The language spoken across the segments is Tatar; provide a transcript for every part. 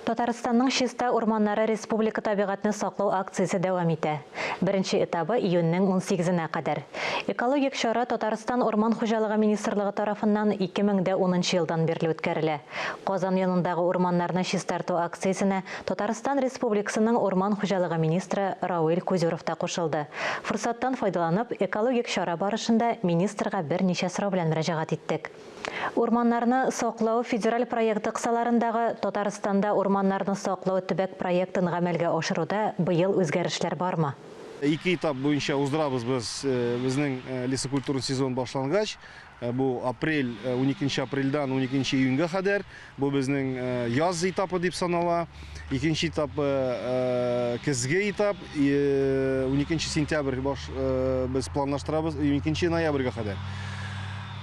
Татарстанның Чиста урманнары республика табигатьне саклау акциясе дәвам итә. Беренче этабы июньнең унсигезенә кадәр. Экологик чара Татарстан Урман хуҗалыгы министрлыгы тарафыннан ике мең дә унынчы елдан бирле үткәрелә. Казан янындагы урманнарны чистарту акциясенә Татарстан Республикасының урман хуҗалыгы министры Рауил Кузюров та кушылды. Форсаттан файдаланып, экологик чара барышында министрга берничә сорау белән мөрәҗәгать иттек. Урманнарны саклау федераль проекты кысаларындагы Татарстанда урманнарны саклау төбәк проектын гамәлгә ашыруда быел үзгәрешләр бармы? Ике этап буенча уздырабыз без безнең лесокультура сезоны башлангач, бу апрель, уникенче апрельдән уникенче июньгә кадәр. Бу безнең яз этапы дип санала. Икенче этапы көзге этап. 12 сентябрь баш без планлаштырабыз 12 ноябрьгә кадәр.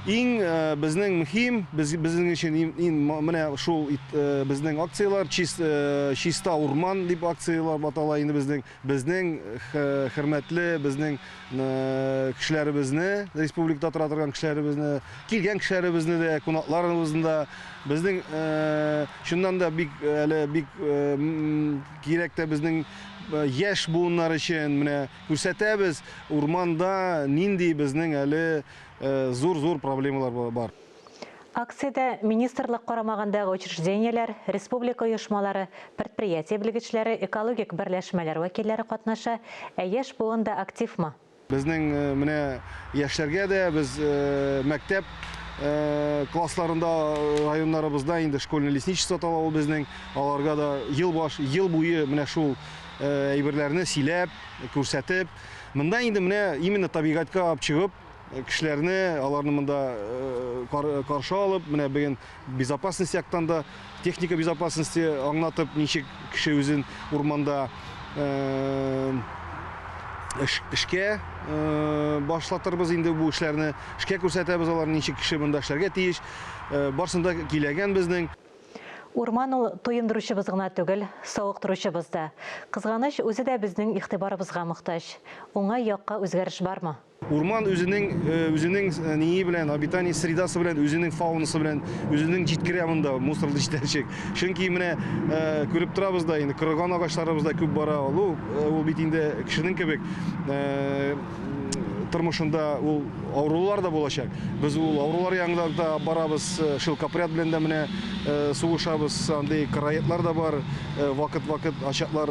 Иң безнең мөһим, без безнең өчен иң менә шул безнең акцияләр чиста урман дип акцияләр батала инде безнең. Безнең хөрмәтле безнең кешеләребезне, республикада тора торган кешеләребезне, килгән кешеләребезне дә, кунакларыбызны да, безнең чыннан да бик әле бик кирәк тә безнең яшь буыннар өчен менә күрсәтәбез, урманда нинди безнең әле зур-зур проблемалар бар. Акциядә министрлык карамагындагы учреждениеләр, республика оешмалары, предприятие белгечләре, экологик берләшмәләр вәкилләре катнаша, ә яшь буын да активмы? Безнең менә яшьләргә дә без мәктәп классларында районнарыбызда инде школьный лесничество тала ул безнең, аларга да ел баш, ел буе менә шул әйберләрне сөйләп, күрсәтеп, монда инде менә именно табигатькә алып чыгып, Кешеләрне, аларны монда каршы алып, менә бүген безопасность яктан да, техника безопасности аңлатып, ничек кеше үзен урманда эшкә башлатырбыз инде бу эшләрне, эшкә күрсәтәбез алар ничек кеше монда эшләргә тиеш. Барсын да киләгән безнең. Урман ул туендыручыбыз гына түгел, савыктыручыбыз да. Кызганыч, үзе дә безнең игътибарыбызга мохтаҗ. Уңай якка үзгәреш бармы? Урман үзенең үзенең ние белән, обитание средасы белән, үзенең фаунасы белән, үзенең җиткерә монда мусор җитәчек. Чөнки менә күреп торабыз да инде, кырган агачларыбыз да күп бара. Ул ул бит инде кешенең кебек тормышында ул авырулар да булачак. Без ул авырулар янында да барабыз, э, шелкопряд белән дә менә э, сугышабыз, андый караетлар да бар, э, вакыт-вакыт ачаклар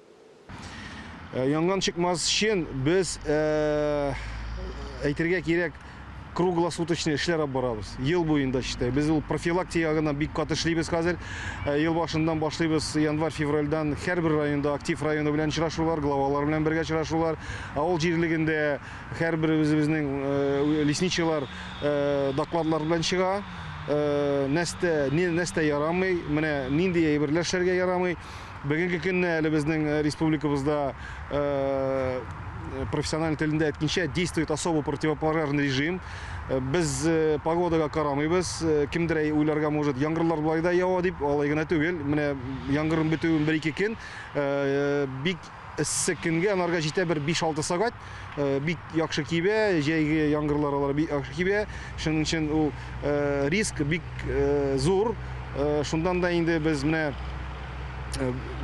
Э, янган чыкмас өчен без э, әйтергә кирәк круглосуточный эшләр алып барабыз ел буенда читай без ул профилактикага гына бик каты эшлибез хәзер э, ел башыннан башлыйбыз январь февральдан һәрбер районда актив районы белән очрашулар главалар белән бергә очрашулар авыл җирлегендә һәрбер үзебезнең лесничийлар докладлар белән чыга нәрсә нәрсә ярамый менә нинди әйберләр эшләргә ярамый Бүгенге көнне әле безнең э, республикабызда э, профессиональ телендә әйткәнчә действует особо противопожарный режим. Э, без э, погодага карамыйбыз. Э, кемдер әй уйларга может, яңгырлар болай да ява дип, алай гына түгел. Менә яңгырның бетүен бер-ике көн э, бик Эссе көнгә анарга җитә бер 5-6 сәгать. Бик яхшы кибә, җәйге яңгырлар алар бик яхшы кибә. Шуның өчен ул риск бик зур. Шундан да инде без менә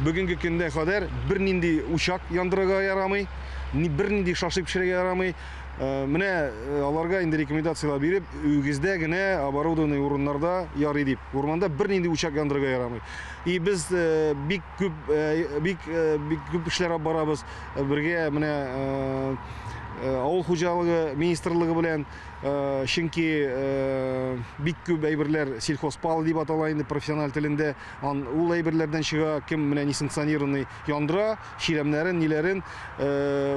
бүгенге көндә кадәр бернинди учак яндырырга ярамый, бернинди шашлык пешерергә ярамый. Менә аларга инде рекомендацияләр биреп, үгездә генә оборудованный урыннарда ярый дип. Урманда бернинди учак яндырырга ярамый. И без бик Күп, бик, бик күп эшләр алып барабыз. Бергә менә авыл хуҗалыгы министрлыгы белән, чөнки бик күп әйберләр сельхозпал дип атала инде профессиональ телендә. Ан ул әйберләрдән чыга, кем менә несанкционированный яндыра, чирәмнәрен, ниләрен.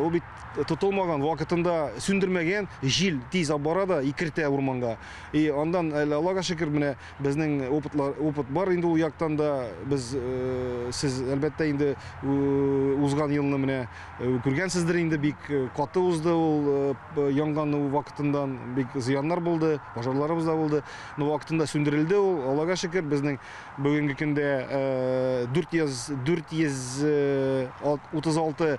Ул бит тотылмаган, вакытында сүндермәгән, җил тиз алып бара да икертә урманга. И андан әле Аллага шөкер, менә Безнең опытлар, опыт бар инде ул яктан да. Без, сез, әлбәттә, инде узган елны менә күргәнсездер инде, бик каты узды ул янган вакытындан, бик зыяннар булды, пожарларыбыз да булды. Но вакытында сүндерелде ул, Аллага шөкер, безнең бүгенге көндә 400, 436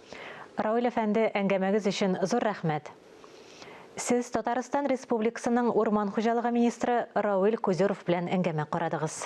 Равил әфәнде, әңгәмәгез өчен зур рәхмәт! Сез Татарстан Республикасының Урман хуҗалыгы министры Равил Кузеров белән әңгәмә карадыгыз.